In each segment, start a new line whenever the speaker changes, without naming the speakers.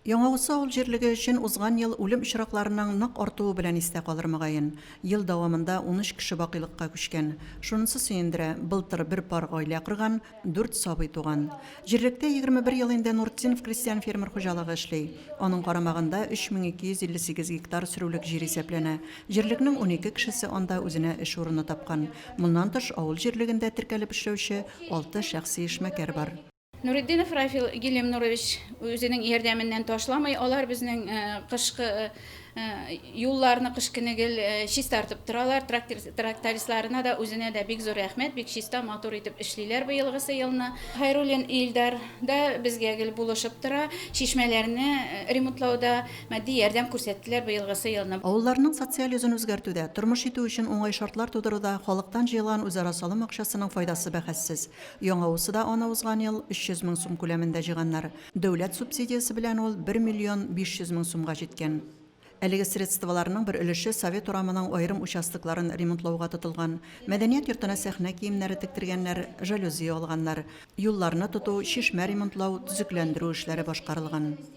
Яңавысы авыл җирлеге өчен узган ел үлем очракларының нык артуы белән истә калыр, мөгаен. Ел дәвамында унөч кеше бакыйлыкка күчкән. Шунысы сөендерә, былтыр бер пар гаилә корган, дүрт сабый туган. Җирлектә егерме бер ел инде Нуртдинов крестьян-фермер хуҗалыгы эшли. Аның карамагында 3258 гектар сөрүлек җир исәпләнә. Җирлекнең унике кешесе анда үзенә эш урыны тапкан. Моннан тыш, авыл җирлегендә теркәлеп эшләүче алты шәхси эшмәкәр бар. Нуретдинов Рафил
Гилемнурович үзенең ярдәменнән ташламый. Алар безнең э, кышкы э, э, юлларны кыш көне гел чистартып торалар. Трактористларына да үзенә дә бик зур рәхмәт, бик чиста, матур итеп эшлиләр быелгысы елны. Хайруллин Илдар да безгә гел булышып тора. Чишмәләрне ремонтлауда матди ярдәм күрсәттеләр быелгысы елны. Авылларның социаль йөзен
үзгәртүдә, тормыш итү өчен уңай шартлар тудыруда халыктан җыелган үзара салым акчасының файдасы бәхәссез. Яңа усы да аны узган ел 300 мең сум күләмендә җыйганнар. Дәүләт субсидиясе белән ул 1 миллион 500 мең сумга җиткән. Әлеге средстволарның бер өлеше Совет урамының аерым участокларын ремонтлауга тотылган. Мәдәният йортына сәхнә киемнәре тектергәннәр, жалюзи алганнар. Юлларны тоту, чишмә ремонтлау, төзекләндерү эшләре башкарылган.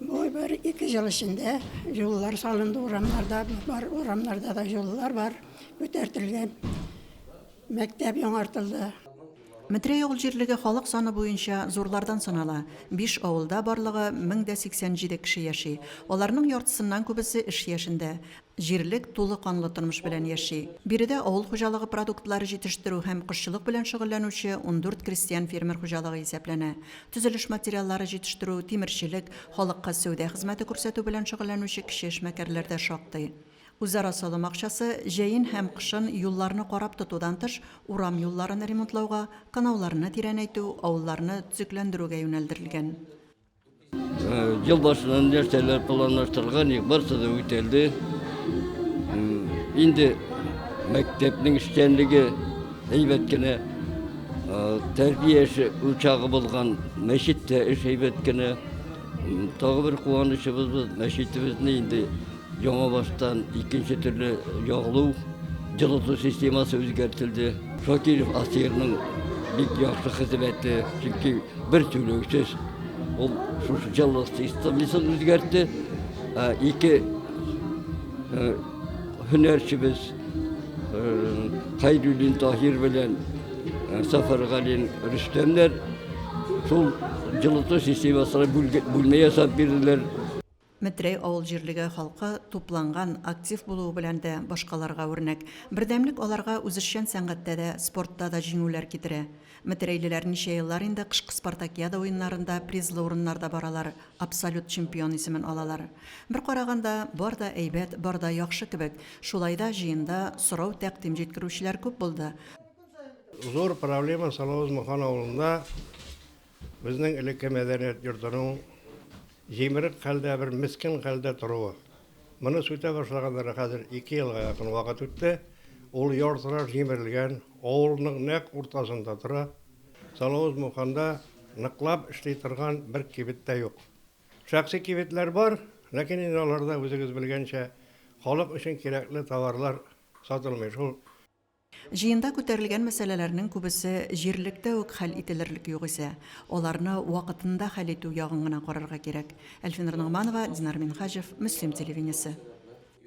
Бу бер ике ел эчендә юллар салынды урамнарда, бар урамнарда да юллар бар, күтәртелгән. Мәктәп яңартылды. Метрәй
авыл җирлеге халык саны буенча зурлардан санала. Биш авылда барлыгы 1087 кеше яши. Аларның яртысыннан күбесе эш яшендә. Җирлек тулы канлы тормыш белән яши. Биредә авыл хуҗалыгы продуктлары җитештерү һәм кошчылык белән шөгыльләнүче ундүрт крестьян-фермер хуҗалыгы исәпләнә. Төзелеш материаллары җитештерү, тимерчелек, халыкка сәүдә хезмәте күрсәтү белән шөгыльләнүче кече эшмәкәрләр дә шактый. Үзара салым акчасы, җәен һәм кышын юлларны карап тотудан тыш, урам юлларын ремонтлауга, канауларны тирәнәйтү, авылларны төзекләндерүгә юнәлдерелгән.
Ел башыннан нәрсәләр планлаштырган, барысы да үтәлде. Инде мәктәпнең эшчәнлеге әйбәт кенә тәрбия эше учагы булган мәчеттә эш әйбәт кенә. Тагы бер куанычыбыз мәчетебезне инде Яңа баштан икенче төрле ягылу, җылыту системасы үзгәртелде. Шакиров Асирның бик яхшы хезмәте, чөнки бер түләүсез ул шушы җылы системасын үзгәртте. Ике һөнәрчебез Хайруллин Таһир белән Сафаргалин Рөстәмнәр шул җылыту системасына бүлмә ясап бирделәр. Метрәй
авыл җирлеге халкы тупланган, актив булуы белән дә башкаларга үрнәк. Бердәмлек аларга үзешчән сәнгатьтә дә, спортта да җиңүләр китерә. Метрәйлеләр ничә еллар инде кышкы спартакиада уеннарында призлы урыннарда баралар, абсолют чемпион исемен алалар. Бер караганда, бар да әйбәт, бар да яхшы кебек. Шулай да җыенда сорау-тәкъдим җиткерүчеләр күп булды.
Зур проблема Салавыз-Мохан авылында Безнең элекке мәдәният йортының җимерек хәлдә, бер мескен хәлдә торуы. Моны сүтә башлаганнары хәзер ике елга якын вакыт үтте. Ул яртыраш җимерелгән, авылның нәкъ уртасында тора. Салавыз Муханда ныклап эшли торган бер кибет тә юк. Шәхси кибетләр бар, ләкин инде аларда, үзегез белгәнчә, халык өчен кирәкле товарлар сатылмый шул. Җыенда
күтәрелгән мәсьәләләрнең күбесе җирлектә үк хәл ителерлек югыйсә, аларны вакытында хәл итү ягын гына карарга кирәк. Әлфинур Ногманова, Динар Минһаҗев, Мөслим телевидениесе.